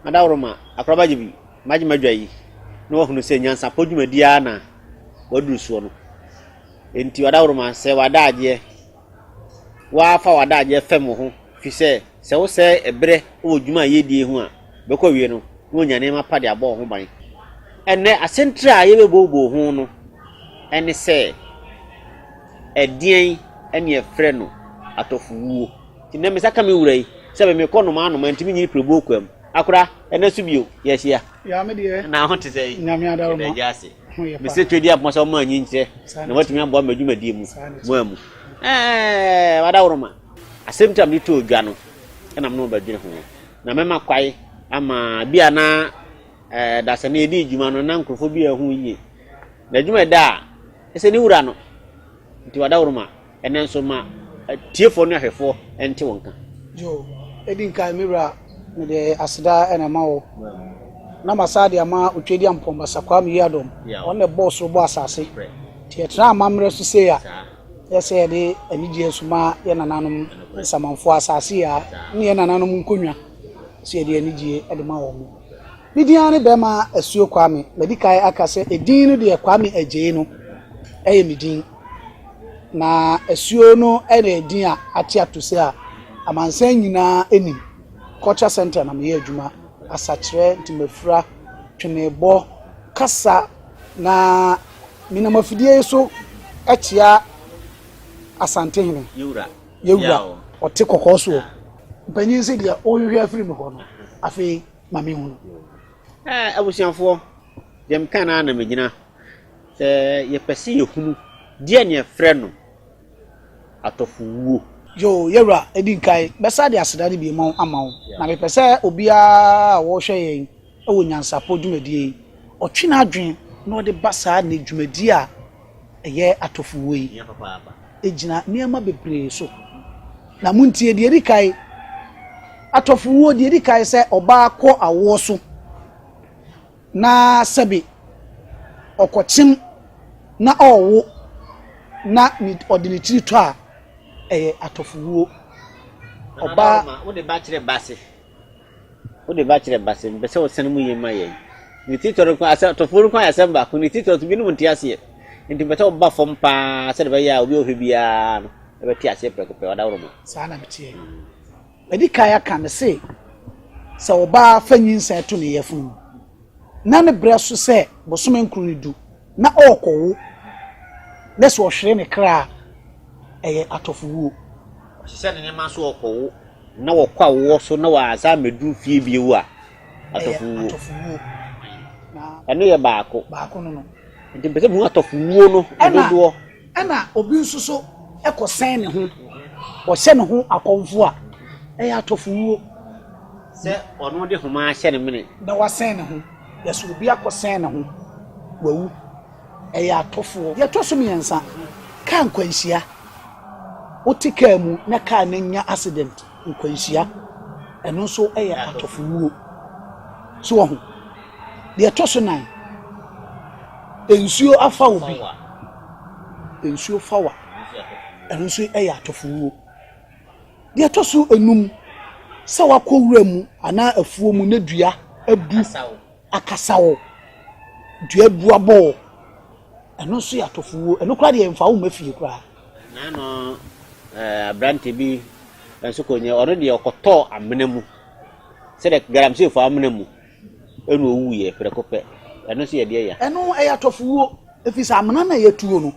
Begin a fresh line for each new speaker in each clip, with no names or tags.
Madaworoma, akorabagye bi, magye m'adwa yi, na wahunu sɛ nyansapɔ dwumadi ara na waduru soɔ no. Enti wadaworoma, sɛ w'adagyeɛ, woafa w'adagyeɛ fam wo ho, fi sɛ sɛ wosɛe ɛberɛ wɔ dwuma a yɛdie ho a, bɛkɔ wie no, na wɔnya nneɛma pa de abɔ wo ho ban. Ɛnnɛ, asɛntire a yɛbɛbooboo ho no ne sɛ, ɛdeɛn ne yɛfrɛ no atɔfowuo? Nnɛ me nsa ka me wura yi sɛ me mekɔ nnomaa nnomaa nti me nyini pirebuo kwam akora ɛna so bio yɛahyia na
ho te sɛ yi yɛda
gya ase
mesɛ
twɛdi apoma sɛ ɔma anyi nkyerɛ na watumi aboa m'adwumadie mu mu amu ɛɛ wada woroma asɛm tam de too dwa no ɛna mene wɔbɛdwene ho na mɛma kwae ama bi a na ɛɛ dasani yɛdi adwuma no na nkurɔfoɔ bi a ɛho yie na adwuma ɛda a ɛsɛ ne wura no nti wada woroma Ɛnnɛ nso, ma atiefoɔ ne ahwɛfoɔ nte wo nka. Yo,
edi nkan me wura, mede aseda na ɛma wo, na masan de ama Otwadiampɔn Basa Kwame Yiadom, ɔno na ɛbɔɔ soro bɔɔ asase, nti yɛtena amammerɛ so sei a, yɛ sɛ yɛde anigyeɛ so ma yɛ nananom nsamanfoɔ asase yi a, ne yɛ nananom nkonnwa, sɛ yɛde anigyeɛ de ma wɔn mo. Me din ara ne Bɛɛma Asuo Kwame, madi kan aka sɛ edin no deɛ Kwame Agyei no yɛ me din. Na asuo no na ɛdin a ate ato sɛ a amansan nyinaa nim. Culture centre na meyɛ adwuma, asakyerɛ, ntomafira, twenebɔ, kasa. Na menam afidie yi so kyea Asantehene. Yɛwura. Yɛwura. Ɔte kɔkɔɔ soɔ. Mpanyin se deɛ wohwehwɛ afiri me hɔ no, afei ma menhunu. Ɛɛ
abusuafoɔ, deɛ meka no ara na megyina. Sɛ yɛpɛ sɛ yɛhunu deɛ na yɛfrɛ no atɔfowuo. Yoo yɛwura
edi nkan bɛsa de aseda no biemu ama wo na mepɛ sɛ obiara a ɔrehwɛ yɛn wɔ nyansapɔ dwumadie yi ɔtwe n'adwene na ɔde ba saa nnɛ dwumadie a ɛyɛ atɔfowuo yi ɛgyina nneɛma bebree so na montie deɛ ɛdi kan atɔfowuo deɛ ɛdi kan sɛ ɔbaa kɔ awoɔ so Na sɛbe ɔkɔkyem na ɔwo na ne ɔde ne tiri tɔ a, ɛyɛ atɔfowuo. Ɔbaa. Anabawo ma, wode ba kyerɛ
base. Wode ba kyerɛ base, mepɛ sɛ wosane mu yie ma yɛn. Ne tiri tɔ no nko, asɛ, atɔfowuo no nko ayɛ asɛm baako. Ne tiri tɔ no nso, binom nte aseɛ. Enti mepɛ sɛ woba fam pa ara sɛdeɛ ɛbɛyɛ a obi a ɔhwɛ biara no bɛte aseɛ prɛko pɛ, ɔdaworo ma. Saa na meteɛ.
Madi kan aka, mese, sɛ ɔbaa fa nyinsɛn to ne yafunu mu, na ne berɛ so sɛ bosome nkron ne du, na ɔrekɔwo, na sɛ ɔhwere ne kra a, ɛyɛ atɔfowuo.
Ɔhyehyɛ ne nneɛma so rekɔwo, na ɔkɔ awoɔ so na wansan ammɛduru fie bio a, atɔfowuo.
Ɛno yɛ baako.
Nti
mepɛ sɛ mehu
atɔfowuo no dodoɔ. Ɛna obi
nso so kɔsɛn ne ho, ɔhyɛ ne ho akɔmfo a, ɛyɛ atɔfowuo.
Sɛ ɔno de homa ahyɛ ne mene. Na wasɛn ne ho,
yɛsɛ obi akɔsɛn ne ho, wawu, ɛyɛ atɔfoɔ. Deɛ ɛtɔ so mmiɛnsa, kaa nkwanhyia, wote kaa mu na kaa no nya accident. nkwanhyia, ɛno nso yɛ atɔfowuo. So wɔ ho? Deɛ ɛtɔ so nan, nsuo afa wo bi, nsuo fa wa, ɛno nso yɛ atɔfowuo. Deɛ ɛtɔ so enum, sɛ wakɔ wura mu anaa afuo mu na dua abu akasa wo, dua abu abɔ wo, ɛno nso yɛ atɔfowuo. Ɛno koraa deɛ mfa wo mma fie koraa. Nnaano
aberante bi nso kɔɔ nyɛ, ɔno deɛ ɔkɔtɔɔ amena mu, sɛdeɛ galamsey fɔ amena mu, ɛna ɔwuiɛ prɛko pɛ. Ɛno nso yɛ deɛ ya. Ɛno ɛyɛ atɔfowuo,
ɛfiri sɛ amena no a ɛyɛ tuo no,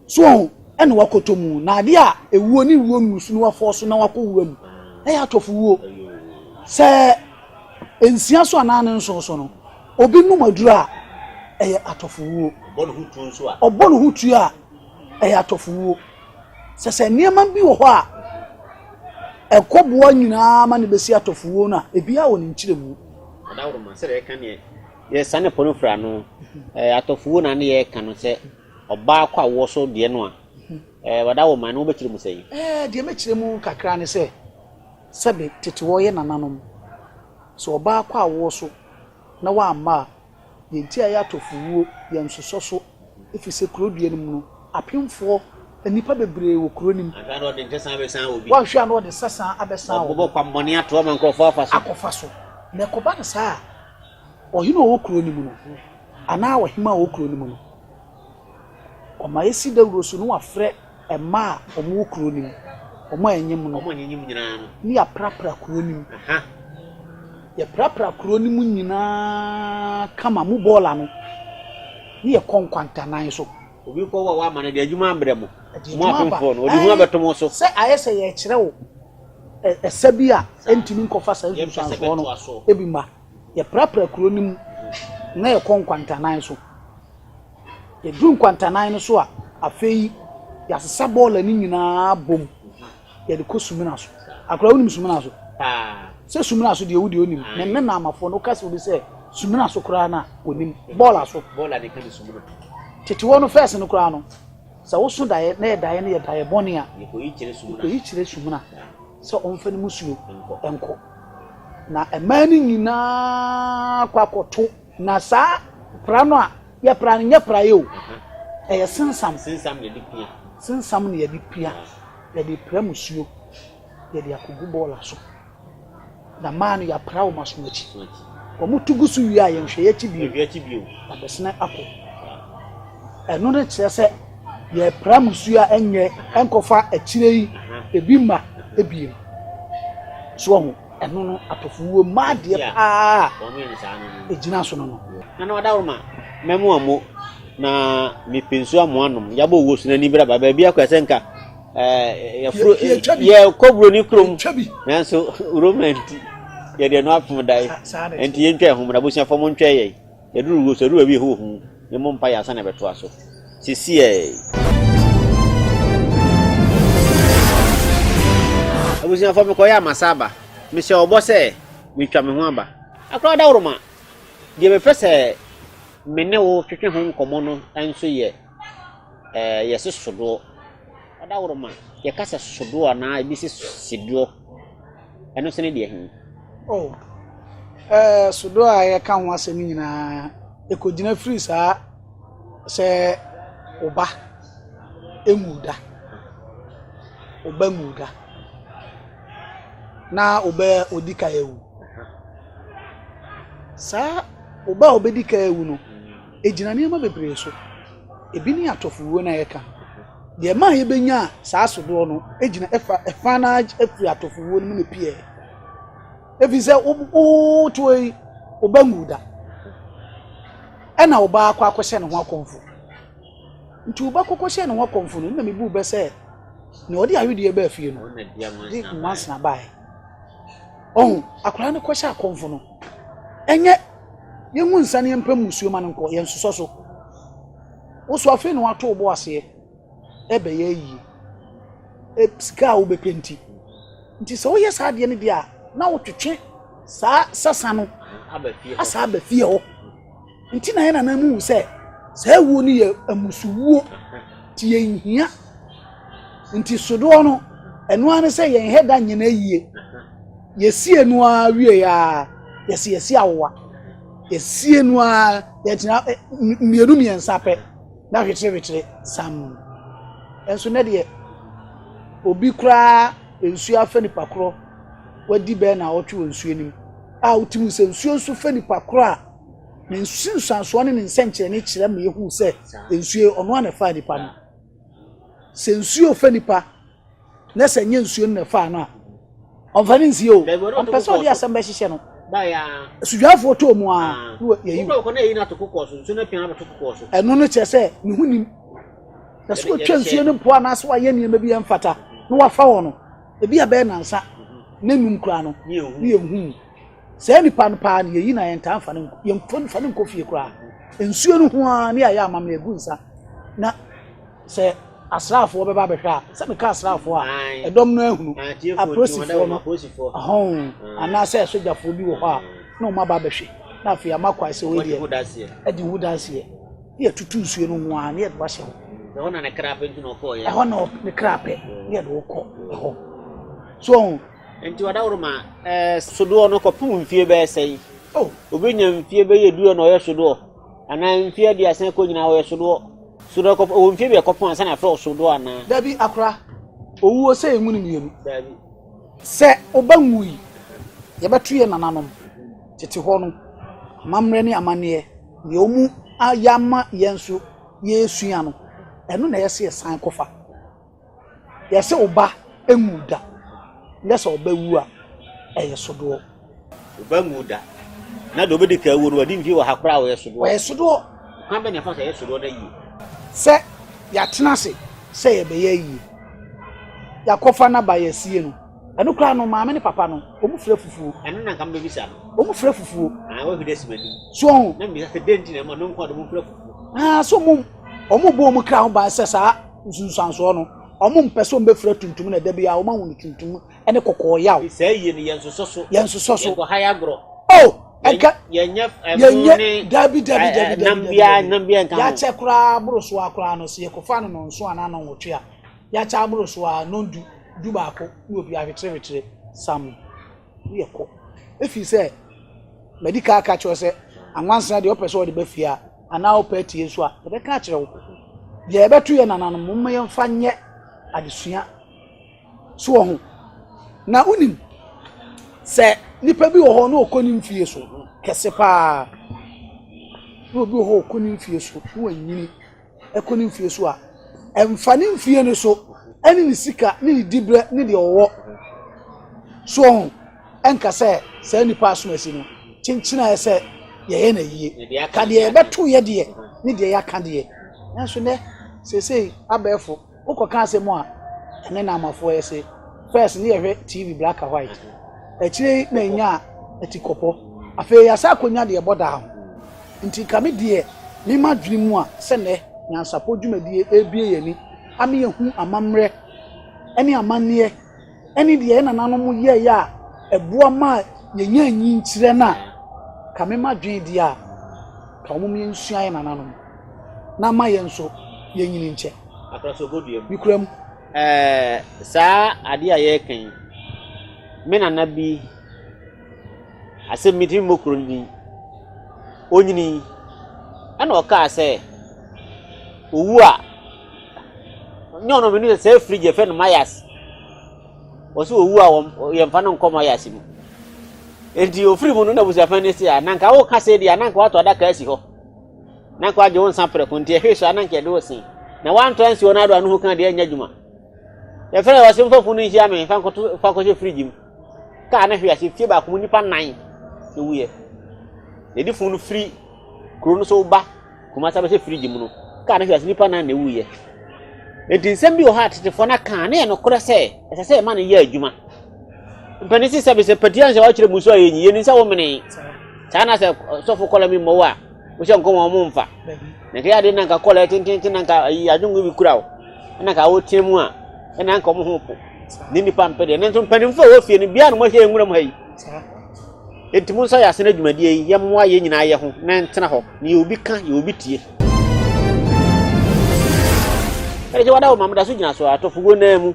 so wɔn ho, ɛna wakɔtɔ mu. Na adeɛ a ɛwuo ne wuo nnusu na wafɔ so na wakɔ wura mu, ɛyɛ atɔfowuo. Sɛ nsia so anaa ne nson so no, obi nom aduro a, ɛyɛ atɔfowuo. Ɔbɔ ne ho tuo nso a. Ɔbɔ ne ho tuo a. ɛyɛ atɔfowuo. Sɛ sɛ nneɛma bi wɔ hɔ a ɛkɔboa nyinaa ma no bɛsi atɔfowuo no a, ebiara wɔ ne nkyerɛmu. Adaworoma sɛ
deɛ ɛka neɛ yɛsa ne pono fira no atɔfowuo na ne yɛka no sɛ ɔbaa kɔ awoɔ so deɛ no a adaworoma no wobɛkyerɛ mu sɛn? Deɛ mɛkyerɛ mu
kakra ne sɛ sɛbe tete wɔyɛ nananom sɛ ɔbaa kɔ awoɔ so na wamma a Deɛ nti a ɛyɛ atɔfowuo yɛ nsosɔso ɛfiri sɛ kuro deɛ no mu no apemfoɔ nnipa bebree wɔ kuro no mu. Anhwɛ a na ɔde nsesaa bɛsan
obi. Wanhwɛ
a
na ɔde nsesaa abɛsan obi.
Ɔbɛbɔ
kwammɔne
ato
ama nkurɔfoɔ
afa
so. Akɔfa so. Na
ɛkɔba no saa a, ɔhene a ɔwɔ kuro no mu no anaa ɔhemmaa a ɔwɔ kuro no mu no Wɔma esi dawuro so na wɔafrɛ mma a wɔwɔ kuro no mu, wɔn a anyim no, ne
yɛaprapra kuro
no mu. Yɛprapra kuro no mu nyinaa kama mu bɔɔl ano, ne yɛkɔ nkwantanan so. Obi kɔ wɔ wama
no de adwuma abrɛ mo. Mo afomfoɔ no, ɔde ho abɛto mo so. Sɛ ayɛ sɛ yɛkyerɛ
wo ɛsɛ bi a ɛntumi nkɔfa saa nsunsuansoɔ no ebi ma. Yɛprapra kuro no mu na yɛkɔ nkwantanan so. Yɛduru nkwantanan no so a, afei yɛasesa bɔɔla no nyinaa bom, yɛde kɔ sumina so. Akora wonim sumina so? Paa. Sɛ sumina so deɛ wo deɛ onim. Ne nne na amafoɔ no woka sɛ obi sɛ sumina so koraa na onim bɔɔla so. Bɔɔla ne ka ne sumina. Tete hɔ no fɛs no koraa no, sɛ woso daeɛ na yɛ daeɛ no yɛ daeɛ bɔne a. Yɛkɔyi kyerɛ sumina. Yɛkɔyi kyerɛ sumina sɛ ɔmfa ne musuo nkɔ. Na mmaa no nyinaa kɔ akɔto Na saa pra no a yɛpra no nyɛ praeɛ o, ɛyɛ sensam. Sensam na yɛde pia.
Sensam na yɛde
pia. Yɛde pra musuo, yɛde akɔgu bɔɔla so. Na maa no yɛapra wɔn aso akyi. Wɔn tu gu so wie a yɛnhwɛ yɛakyi bio. Yɛhwɛ akyi bio. Abɛsena akɔ. Ɛno ne kyerɛ sɛ yɛpra musuo a ɛnyɛ ɛnkɔfa akyire yi ebi ma ebiem. So ho. Ɛno no atɔfo wuo mma adeɛ paa a ɛgyina so no no. Nana Ɔdawroma,
mɛmo amo na mepɛ nsuo amoa nom. Yɛabɔ owuo so n'ani braba. Baabi akɔ sɛ nka yɛfuro yɛkɔ buroni kurom nanso Roma nti yɛde ɛno apem dae nti yɛntwa ɛho mmra abusuafoɔ mo ntwa yɛn. Yɛduru hɔ, sɛ yɛduru baabi a ɛhɔ wɔ hu, yɛmmɔ mpaeɛ ansa na yɛbɛtoa so. Sisiɛɛ. Abusuafoɔ, mekɔyɛ a masa aba. Mehyɛ wo bɔ sɛ metwa me ho aba. Akora daworo ma. Deɛ mepɛ sɛ me ne wo twetwe ho nkɔmmɔ no nso yɛ. ɛɛ yɛse sodoɔ. Ɔdaworo ma yɛka sɛ sodoɔ anaa ebi se sedoɔ. Ɛno nso ne deɛ he? Oh, ɛɛ eh,
sodoɔ a yɛka ho asɛm nyinaa, ɛkɔgyina firi saa sɛ ɔba emu da. Ɔba mu da. Na ɔba ɔdi ka awu. Saa ɔba a ɔbɛdi ka awu no, Egyina nneɛma bebree so. Ebi ne atɔfowuo no a yɛka no. Deɛ ɛma a yɛbɛnya saa sodoɔ no gyina ɛfa ɛfa no ara firi atɔfowuo no mu na pii ɛyɛ. Ɛfiri sɛ wotoɔ yi ɔba ngu da ɛna ɔba akɔ akɔhyɛ ne ho akɔmfo. Nti ɔba kɔkɔhyɛ ne ho akɔmfo no na mebu bɛ sɛ na ɔde awedeɛ baa fie no de nwansena baeɛ. Ɔho akwadaa no kɔhyɛ akɔmfo no ɛnyɛ Yɛngu nsa ne yɛmpɛ mmusuo ma no nkɔ, yɛnsosɔ so. Wo nso afei na woato wo bo aseɛ ɛbɛyɛ ayie. E, sika a wobɛpɛ nti. Nti sɛ woyɛ saa adeɛ no deɛ a, na wotwetwe saa sasa no asa aba fie hɔ. Nti na yɛ nana mu hu sɛ saa wuo no yɛ amusuwuo nti yɛnhia. Nti sodoɔ no, ɛno ara ne sɛ yɛnhɛ da nyɛ no ayie. Yɛsiee no ara wieeɛ ara, yɛse yɛsi awowa. Yɛsiee no ara, yɛgyina ɛ mmienu mmiɛnsa pɛ na hwekyerehwekyere sam. Nso nɛ deɛ obi koraa nsuo afɛ nipa korɔ wadi bɛyɛ naawɔtwe wɔ nsuo no mu a wotumi hu sɛ nsuo nso fɛ nipa korɔ a ne nsunsuansoɔ ne ne nsɛnkyerɛnne kyerɛ ma yɛhu sɛ nsuo ɔno ara na ɛfaa nipa no. Sɛ nsuo fɛ nipa na sɛ nyɛ nsuo no na ɛfaa no a, ɔmfa no nsie o. Ɔmpɛ sɛ ɔde asɛm bɛhyehyɛ no.
Asudwafoɔ tɔɔ
mu a na yɛyi no.
Ɛno no kyerɛ sɛ
ne ho nim. Na sɛ wɔtwa nsuo no mpo anaasɛ wɔayɛ nneɛma bi ɛmfata na wɔafa wɔn no, ebi a bɛyɛ nansa ne num koraa no ne yɛnhu mu. Saa nipa no paa no yɛyi na yɛntaa mfa no yɛmfa no nkɔ fie koraa. Nsuo no ho ara ne yɛayɛ amammerɛ gu nsa na Sɛ asraafoɔ bɛba abɛhwɛ a, sɛ meka asraafoɔ a, ɛdɔm no ahunu apolisifoɔ no hɔn anaasɛ sogyafoɔ bi wɔ hɔ a na wɔn aba abɛhwɛ na afei ama kwae sɛ wɔyɛ ɛdi ho danseɛ ne yɛtutu nsuo no ho a ne yɛde wahyɛ hɔ ɛhɔ na ne kra pɛ nti na
ɔkɔ yɛ ɛhɔ na ne kra pɛ
ne yɛde wɔkɔ ɛhɔ so ɔho nti ɔdaworo
ma ɛɛ sodoɔ no kɔpem mfie bɛyɛ sɛn oh. obi nya mfie bɛyɛ duo na ɔyɛ sodoɔ Anaa mfe aduasa kɔ nyinaa wɔyɛ sodoɔ. Sodoɔ kɔ ɔwɔ mfe biɛ kɔpɔn ansa na afrɛ sodoɔ anaa. Dabi akora.
Owuo sɛ yɛn mu no mmienu. Dabi. Sɛ ɔba nwui yɛbɛto yɛn nananom tete hɔ no amammerɛ ne amanneɛ nea ɔmu ayɛ ama yɛn nso yɛresua no ɛno na ɛyɛ sɛ yɛsan kɔfa. Yɛse wo ba nwu da, na sɛ ɔba wu a, ɛyɛ sodoɔ. Wo ba
nwu da, na deɛ ɔbɛdi ka awu no wadi mfie wɔ ha koraa ɔyɛ sodoɔ. Ɔyɛ sodoɔ.
Kwan bɛ na ɛfa so
ɛyɛ sodoɔ na yie? Sɛ
yɛatena ase sɛ yɛbɛyɛ ayie, yɛakɔfa no aba yɛasie no, ɛno koraa no maame ne papa no wɔn fira fufuo. Ɛno na nka mbɛbisa no.
Wɔn fira fufuo.
Ah, wɔn fira si m'anim.
So ɔho. Na mbisa sɛ
dɛn nti na
ɛma no nko a de wɔn fira fufuo. Ah, so
wɔn wɔn bɔ wɔn kra ho ban sɛ saa. Nsunsuansoɔ no, wɔmpɛ sɛ wɔbɛfira tuntum na ɛda biara wɔahu no tuntum ne kɔkɔɔ yaw. Saa yie no yɛnsosɔ
so. Yɛnsosɔ so. Yɛnkɔha yɛ
agorɔ.
Oh! Ɛnka
yɛnyɛ
ɛmo ne dabi
dabi dabi nam biara
nam biara nka ho. Yɛakyɛ koraa boro
so ara koraa no sɛ yɛkɔfa no nnɔnson anaa nnɔnwɔtwe a, yɛakyɛ aboro so ara nnɔndu du baako ne obi ahwetere hwetere sam. woyɛ kɔ ɛfiri sɛ madi ka aka kyerɛ sɛ anwansa deɛ ɔpɛ sɛ ɔde ba fie a anaa ɔpɛ atie nso a ɛbɛka akyerɛ wo deɛ ɛbɛto yɛ nananom mma yɛmfa nyɛ adesua so wɔ ho na wonim sɛ nipa bi wɔ hɔ na ɔkɔ ne mfie so kɛse paa na obi wɔ hɔ ɔkɔ ne mfie so na wanyini ɛkɔ ne mfeɛ so a, ɛmfa ne mfeɛ no so ne ne sika ne ne diberɛ ne deɛ ɔwɔ soɔ ho ɛnka sɛ saa nipa asomasi no kyenkyenaeɛ sɛ yɛyɛ no ayie ka deɛ yɛbɛto yɛ deɛ ne deɛ yɛaka deɛ nanso nɛ seesei abɛɛfo Wo kɔ ka asɛm a ɛne Naamafoɔ yɛ se, first ne yɛ hwɛ TV black and white, akyire yi na yɛnyaa atikɔpɔ, afei yɛasan akɔnya deɛ ɛbɔ daa ho. Nti nka me deɛ me ma dwene mu a sɛ nnɛ nyansapɔ dwumadie ɛrebue yɛn ani ama yɛhu amammerɛ ne amanneɛ, ne deɛ yɛn nananom yɛeɛ a ɛboa maa yɛnyaa nyinkyerɛ no a, ka mema adwene deɛ a, ka wɔn mmea nsua yɛn nananom na ama yɛn nso yɛnyini nkyɛ.
Mekura mu.
Ɛɛ
saa adeɛ a yɛreka yi, me nana bi Asɛm bi nti mmokuro no din. Onyinii, ɛna ɔkaa sɛ, owu a, nyɛ ɔno mene sɛ afiri gye fɛ no mayas. Ɔsɛ owu a wɔn yɛmfa no nkɔ mayas mu. Enti ofiri mu no na busuafan ne si a, na nka woka sɛ di a, na nka wato adaka asi hɔ. Na nka wagye wo nsa prɛko nti ɛhwee so a na nka ɛde wo sen. Na wantɔ ansi wɔn ado a no ho kan deɛ ɛnyɛ adwuma. Yɛfrɛ yɛ ɔsɛ mfa funu nhyia me, fa nkɔto fa kɔhyɛ firigye mu. kaa no hwee ase fie baako mu nnipa nan na wuiɛ na ɛdi funu no firi kuro no so ba kumasa bɛhyɛ firigye mu no kaa no hwee ase nnipa nan na wuiɛ nti nsɛm bi wɔ hɔ a tetefoɔ no aka ne yɛ nokorɛ sɛ ɛsɛ sɛ ɛma no yɛ adwuma mpanin si sɛ bisɛ patia nsɛ wɔakyerɛ mu so a yɛnyi yɛnim sɛ womene saa na sɛ sɔfo kɔla mi mmɔwo a Wohyɛ nkɔm a wɔn mfa. Na nka yade na nka kɔla tententen na nka ayi adwongo bi kura wo. Na nka wotia mu a ɛna nka wɔn ho po. Ne nipa mpɛ deɛ. Nanso mpanimfoɔ a wɔfie no bia na wɔahyɛ nwura mu ha yi. Enti mo nsa yɛ asene adwumadie yi yɛmmoa yɛn nyinaa yɛ ho na ɛntena hɔ. Ne yɛ obi ka yɛ obi tie. Ɛde gye wada wo ma meda so gyina so atofogo naa mu.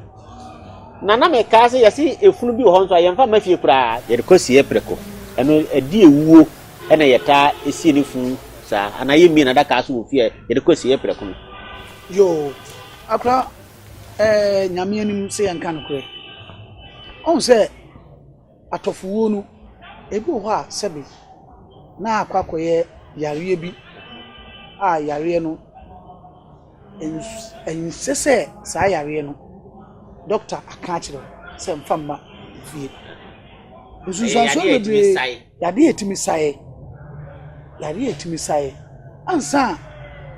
Na na mekaa sɛ yɛse efunu bi wɔ hɔ nso a yɛmfa mma fie koraa. Yɛde kɔsie prɛko. Ɛno ɛde ewuo. Ɛna yɛtaa sie no fun saa anaa yɛ mie nadakaa so wɔ fie a yɛde kɔ asieɛ prɛko no. Yoo
akora ɛɛ nyame anim sɛ yɛn ka nokorɛ ɔn sɛ atɔfowuo no ebi wɔ hɔ a sɛbe na akɔ akɔyɛ yareɛ bi a yareɛ no ɛnsɛ sɛ saa yareɛ no dɔkta aka akyerɛ sɛ nfa mma fie nsunsuansoɔ bebree. Yadeɛ a ɛtumi saeɛ, yadeɛ a ɛtumi saeɛ ansa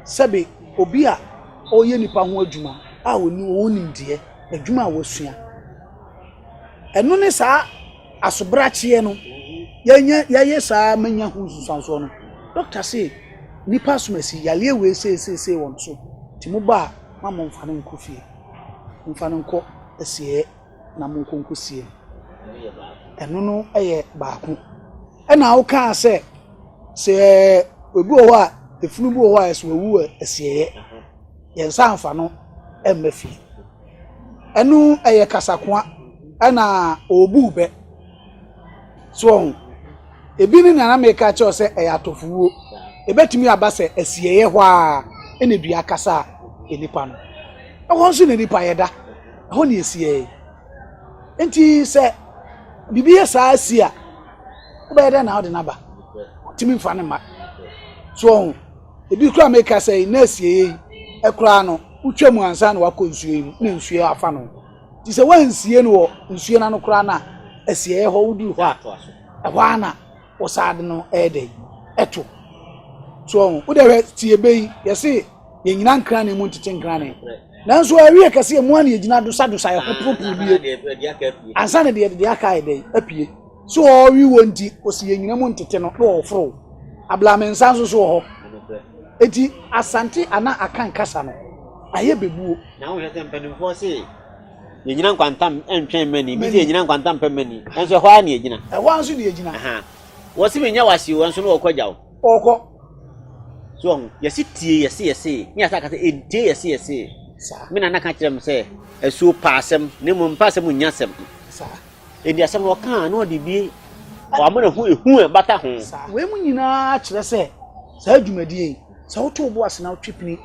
sɛbe obi a ɔreyɛ nipa ho adwuma a ɔni wɔn nimdeɛ, adwuma a wɔasua. Ɛno ne saa asobrakyeɛ no, yɛnyɛ yɛyɛ saa manya ho nsusuansoɔ no. Dɔkta se nipa asomasi yareɛ wei seeseesei wɔn so, nti mo ba a, ma mo mfa no nkɔ fie, mfa no nkɔ asieɛ. na monkɔ nkɔsie no. Ɛno no yɛ baako. Ɛna wokaa sɛ sɛ obi wɔ hɔ a efunu bi wɔ hɔ a ɛsɛ owu wɔ asieɛ yɛn nsa anfa no mma fie ɛno ɛyɛ kasakoa ɛna ɔbu bɛ so ɔho ebi ne nana meka kyerɛw sɛ ɛyɛ atɔfowuo ebɛtumi aba sɛ asieɛ hɔ a ɛna dua kasa a nipa no ɛwɔ nso na nipa yɛda Ɛhɔ na ɛsiiɛ. Enti sɛ biribi yɛ saa si a, wobɛyɛ dɛn na wode no aba? Wotumi mfa no mma. So ɔho, ebi koraa meka sɛ yi na asieɛ yi ɛkoraa no, wotwa mu ansa na wakɔ nsuo yi mu na nsuo afa no. Nti sɛ woansie no wɔ nsuo no ano koraa no a, asieɛ hɔ woduru hɔ a, ɛhɔ ara na wɔsaa de no ɛyɛ dɛn? Ɛto. So ɔho, wode hwɛ tiebe yi, yɛse Yɛnyina nkrane mu ntete nkrane. Nanso awie kɛse emu a na yɛgyina dosadosa yɛ ho poroporo bie. Ansa na deɛ deɛ aka yɛ dɛ apue. So ɔrewe wɔ nti ɔsi yɛnyina mu ntete no na ɔforo. Ablame nsa nso so wɔ hɔ. Eti asante anaa akan kasa no ayɛ bebuo. Na wohwɛ sɛ mpanimfoɔ
se yɛnyina nkwantam ntwɛn mmani. Bi sɛ yɛnyina nkwantam pɛ mmani. Nanso ɛhɔ ara na yɛgyina. Ɛhɔ ara nso na yɛgyina.
Wɔse
menya wase o, nanso no wɔkɔ gya o. ɔkɔ
so
ɔho yɛsi tie yɛsi yɛsi ne yɛsa kasa etie yɛsi yɛsi me nana ka
kyerɛ m sɛ
asuo pa asɛm ne mu mpa asɛm nya asɛm
edi asɛm na
ɔka na ɔde bi wama na ho ehu a bata ho. wei mu nyinaa
kyerɛ sɛ saa dwumadie yi sɛ woto bo ase na wotwe pini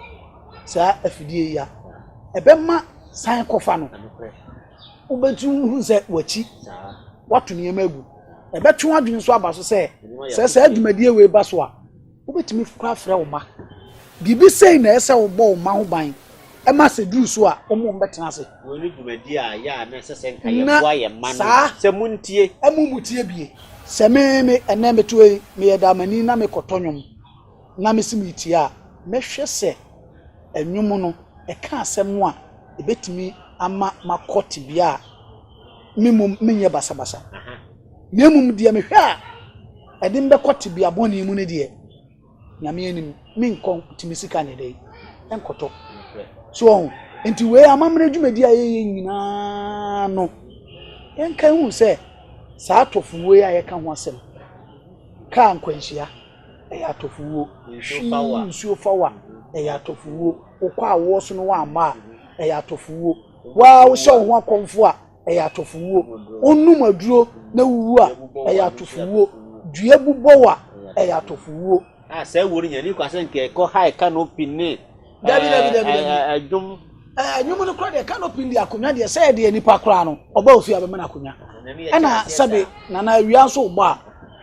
saa afidie yi a ɛbɛma san kɔfa no. wobɛtumi wohu sɛ wakyi wato nneɛma agu ɛbɛtwe w'adwene nso aba so sɛ sɛ saa dwumadie wei ba so a wobɛtumi kora frɛ wo ma biribi sei na ɛsɛ wobɔ wo ma ho ban ɛma sɛ duru so a wɔn wɔn bɛtena ase. wɔn ne dwumadi a
yɛ a na ɛsɛ sɛ nka yɛ boa yɛ mma no sɛ mo ntie. ɛmu mu tie bie
sɛ me me ɛnɛ meto yi meyɛ damani na mekɔtɔ nnwom. Na mese meretie a, mɛhwɛ sɛ nnwom no ka asɛm a ebetumi ama makɔ tebea a me mmom menyɛ basabasa. Na mmom deɛ mehwɛ a ɛde me bɛkɔ tebea bɔne mu no deɛ, Nyame anim menkɔ nti me sika nyɛ dɛn ɛnkɔtɔ. So ɔho, nti wei amammerɛ dwumadi a yɛyɛ nyinaa no, yɛnka hu sɛ saa atɔfo wei a yɛka ho asɛm kaa nkwanhyia. Ɛyɛ atɔfowuo. Hwii nsuo fa wa. Ɛyɛ atɔfowuo. Wokɔ a woɔ so no woammɔ a, ɛyɛ atɔfowuo. Waa wohyɛ wo ho akɔmfo a, ɛyɛ atɔfowuo. Wonom aduro na wuwu a, ɛyɛ atɔfowuo. Dua bu bɔ wo a, ɛyɛ atɔfowuo. A saa wuo no nya
ni kwa sɛ nka ɛkɔ high canopy ne dabi dabi dabi dabi
ɛdwom
ɛnwom no
kora deɛ canopy de akonnwa deɛ sɛ ɛdeɛ nipa koraa no ɔba ofie abɛma no akonnwa ɛna sɛbe nana awia nso bɔ a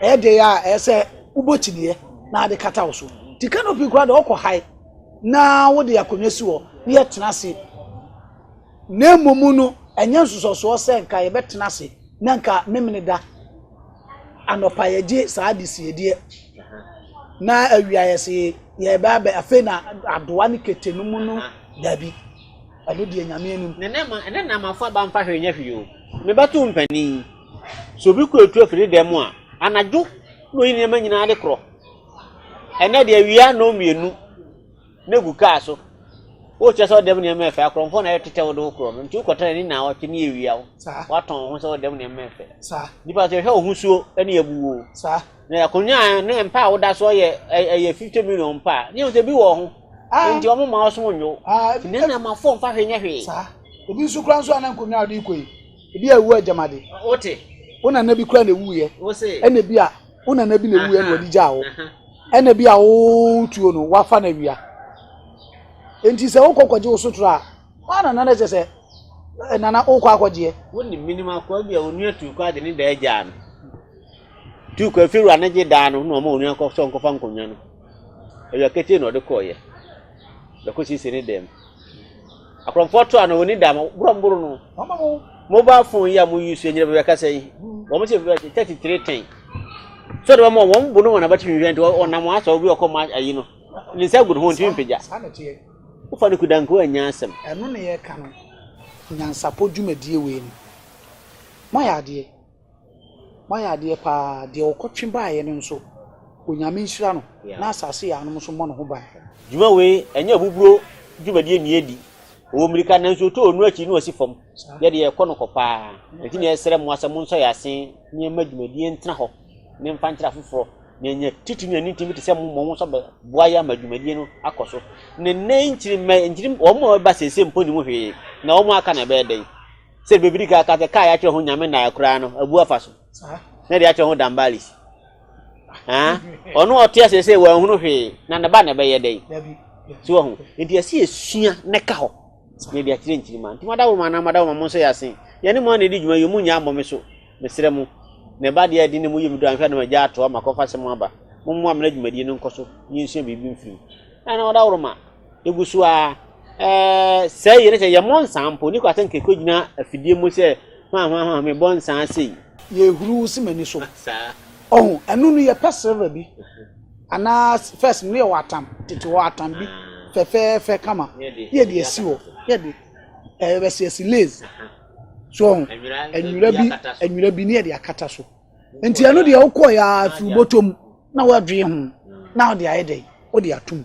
ɛyɛ deɛ yɛ a ɛyɛ sɛ wobɔ kyiniiɛ na ade kata wo so ti canopy kora deɛ ɔkɔ hae na wode akonnwa si hɔ na yɛtena ase na mmom no ɛnyɛ nsosɔsoɔ sɛ nka yɛbɛtena ase na nka memene da Anɔpa yɛgye saa adesiedeɛ na awia yɛse yɛbɛ abɛ afei na adoa ne kete no mu no dabi ɛno deɛ nyame anim ɛnɛ na mafo
aba mfa hwee nyɛ hwee o mebɛto mpanin sɛ obi kɔ etu afiri dɛm mu a anadwo na oyi nneɛma nyinaa de korɔ ɛnɛ deɛ awia na ɔmmienu na egu kaa so. Wokyerɛ sɛ wo dɛm nneɛma ɛfɛ a, korɔnkorɔn na ɛretetɛ wo de wo korɔ no, nti wokɔtena ani naawɔtwe ne awia wo. Woatɔn wo ho sɛ wo dɛm nneɛma ɛfɛ. Nnipa nso yɛhwɛ wo ho suo ne yɛbu wo. Na akonnwa a ne mpa a woda so yɛ ɛyɛ fifty million mpa a, ne yɛn sɛ bi wɔ ho. Nti wɔn mma wo so nwo. Nti nneɛma fo mfa hwee nyɛ hwee. Obi nso
kura nso a na nkonnwa a ɔde rekɔ yi. Ebi a ewu agyamade. Wote. Wo
nana bi kura
na ewuiɛ. Wose. Ɛna bi a
wo nana
bi na ewuiɛ na wɔde gyaa wo. Ɛna bi a wo tuo no wafa na wia. Enti sɛ wokɔ kɔgye wo sotoro a, wɔn nana na kyɛ sɛ eh, nana wokɔ akɔgyeɛ. Wonni minim akoa
bi a onua tu kɔ ade ne daa gyaa no. Tu kɔ efirwa ne gye daa no na ɔma onua kɔ sɔ nkɔfa nkonnwa no. Awia ketee na ɔde kɔɔeɛ. Bɛkɔ siesie ne dan mu. Akorɔmfoɔ to a na wɔni da ma borɔ mboro no wɔma mo mobile phone yi a mo use nyina bɛbɛ kasa yi wɔn sɛ bɛbɛ thirty three ten so de wɔn wɔn bo no wɔn abatumi hwɛ nti ɔnam wɔn asɔ obi ɔkɔ ma ayi no ne nsa gu ne ho ntumi mpagya wofa no kudanko anya asɛm ɛno ne yɛka no
nyansapɔ dwumadie wei no moayɛ adeɛ Moayɛ adeɛ paa, deɛ ɔkɔtwe baeɛ no nso, Onyame nhyira no na asase yaanom nso mmɔ ne ho ban. Dwuma wei, ɛnyɛ
ahuhuro dwumadie nni adi. Ɔwɔ mmirika, nanso ɔtɔ onu akyi na ɔsi fam. Yɛ deɛ ɛkɔ no kɔ paa. Ɛnti na yɛsrɛ mo ara sɛ monsɔ yɛn ase na yɛmma dwumadie ntena hɔ na yɛmfa nkyerɛ afoforɔ na yɛanya titiri ne anintini bi te sɛ mo mmom nso bɛboa yɛn ama dwumadie no akɔ so. Ne nnɛ yi nkyiri mmɛ, nkyiri wɔn a wɔreba seesei mpo nnim hwee, na wɔn a aka no ɛbɛyɛ dɛn? sɛ baabi di kan ka sɛ kaa yɛakyerɛ ho nyame nnaeɛ koraa no abu afa so na de akyerɛ ho dambalis ɔno ɔte ase sɛ wanhunu hwee na ne ba na ɛbɛyɛ dɛn so wɔ ho nti ɛsɛ yɛsua na ɛka hɔ na ɛde akyerɛ nkyirima nti mada wo ma na mada wo ma mo nso yɛ ase yɛne mo a na ɛdi dwuma yɛ mu nya mmɔ me so mesrɛ mo na ɛba deɛ ɛde ne mu yɛ mu do anhwɛ na magya atoa makɔfa sɛ mo aba mo mmoa mena dwumadie no nkɔ so yɛnsua biribi mfiri mu ɛna ɔda wo ma egu so ara. Ɛɛ sɛɛ yɛ ne sɛ yɛmmɔ nsaa mpo. Niko asɛ nka ekogyina afidie mu sɛ hwan hwan hwan mebɔ nsaa sei. Yɛhuru si
m'ani so. Ɔho ɛno no yɛpɛ silver bi anaa first no yɛwɔ atam tete hɔ atam bi fɛfɛɛfɛ kama ne yɛde asi hɔ yɛde ɛbɛsi asi lace so ɔho nwura bi nwura bi ne yɛde akata so. nti ɛno deɛ wokɔ yɛ afiri bɔtɔ mu na wɔadwee ho na wode ayɛ dɛn wode atom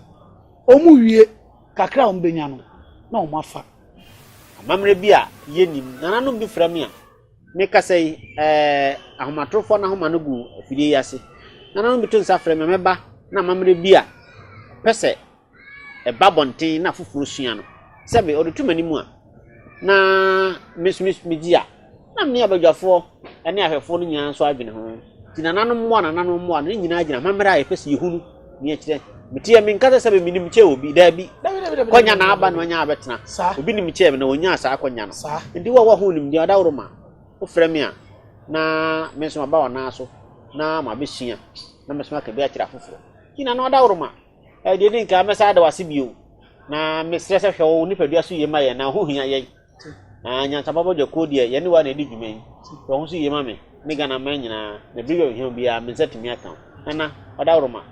ɔmu wie kakra a wɔbɛnya no na wɔn afa amammerɛ
bi a yɛnim nananom bi frɛ me a mekasa yi ɛɛ ahomatorofoɔ no ahoma no gu afidie yi ase nananom bi to nsa frɛ me mɛba na amammerɛ bi a pɛ sɛ ɛba abɔnten na afoforɔ sua no, sɛ me ɔde to m'anim a, na me nso megye a, na me ne abadwafoɔ ne ahwɛfoɔ no nyinaa nso adwene ho. Nti nananom mmoa, nananom mmoa no, ne nyinaa gyina amammerɛ a yɛpɛ sɛ yɛhunu ne ɛkyerɛ. Meteɛ menka sɛ sɛbe menim kyɛ obi, daabi. Kɔnya na aba no anya abɛtena. Obi nim kyɛ me na ɔnyaa saa kɔnya no. Nti wo a woaho nimdeɛ adaworo ma wofrɛ me a, na me nso maba w'anan so na mabɛsua na mɛsoma aka bi akyerɛ afoforɔ. Nti nana ɔdaworo ma. Deɛ ɛdi nkan, mɛsan ada wo ase bio, na mesrɛ sɛ hwɛ wo nipadua so yie ma yɛn, na ho hia yɛn. Na nyansapɔ bɔdwa kuo deɛ, yɛne wo a na ɛdi dwuma yi. Hwɛ ho so yie ma me, ne Ghana man nyinaa, na biribi a ohia obiara, me nsa tumi aka wo. Nana, Ɔdaworoma,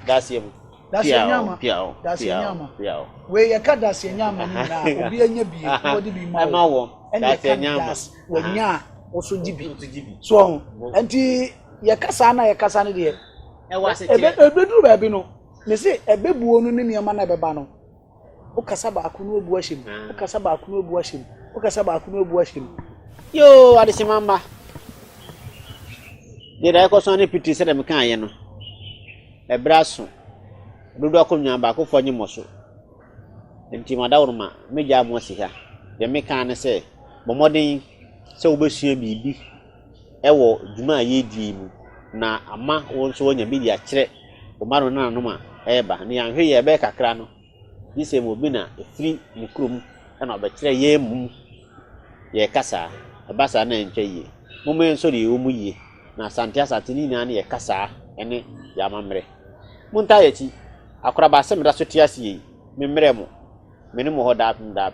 Daseɛ mu. Daseɛ nyama,
daseɛ
nyama.
Wei yɛka daseɛ nyama no nyinaa, obi anya bi, wɔde bi ma wo. Ɛna
yɛka daseɛ, wɔnya a,
wɔso gye bi. So ɔho, nti yɛkasa na yɛkasa no deɛ, ɛwɔ asetere ka. Ɛbɛduru baabi no, me se ɛbɛbuo no ne nneɛma no ɛbɛba no, wokasa baako no abu ahyɛ mu, ah. wokasa baako no abu ahyɛ mu, wokasa baako no abu ahyɛ mu. Yoo,
adehyema mma. Deɛ da ɛkɔ so ne pitiri sɛ dɛm kan yɛ no, ɛbrɛ aso, dodo akonnwa baako fɔ nye mɔ so. Nti ma daworo ma, mɛgya mo asi ha. Deɛ meka ne sɛ, bɔ mmɔden sɛ wobɛsua biribi wɔ dwuma a yɛredi yi mu na ama wɔn nso wɔanya bi de akyerɛ wɔn mma ne wɔn nananom a ɛreba. Ne yɛanhwɛ yie a, ɛbɛyɛ kakra no, gye sɛ obi na ɛfiri ne kurom na ɔbɛkyerɛ yɛn mmom yɛrekasa a. Ɛba saa na ɛntwa yie. Momma yɛnsɔ deɛ yɛwɔ mu yie, na Asante Asante no nyinaa no yɛ kasa ne yɛn amammerɛ. Montaa yɛn akyi. Akoraba asɛm da so te ase yei. Memmrɛ mo. Me ne mo wɔ hɔ daapem daapem.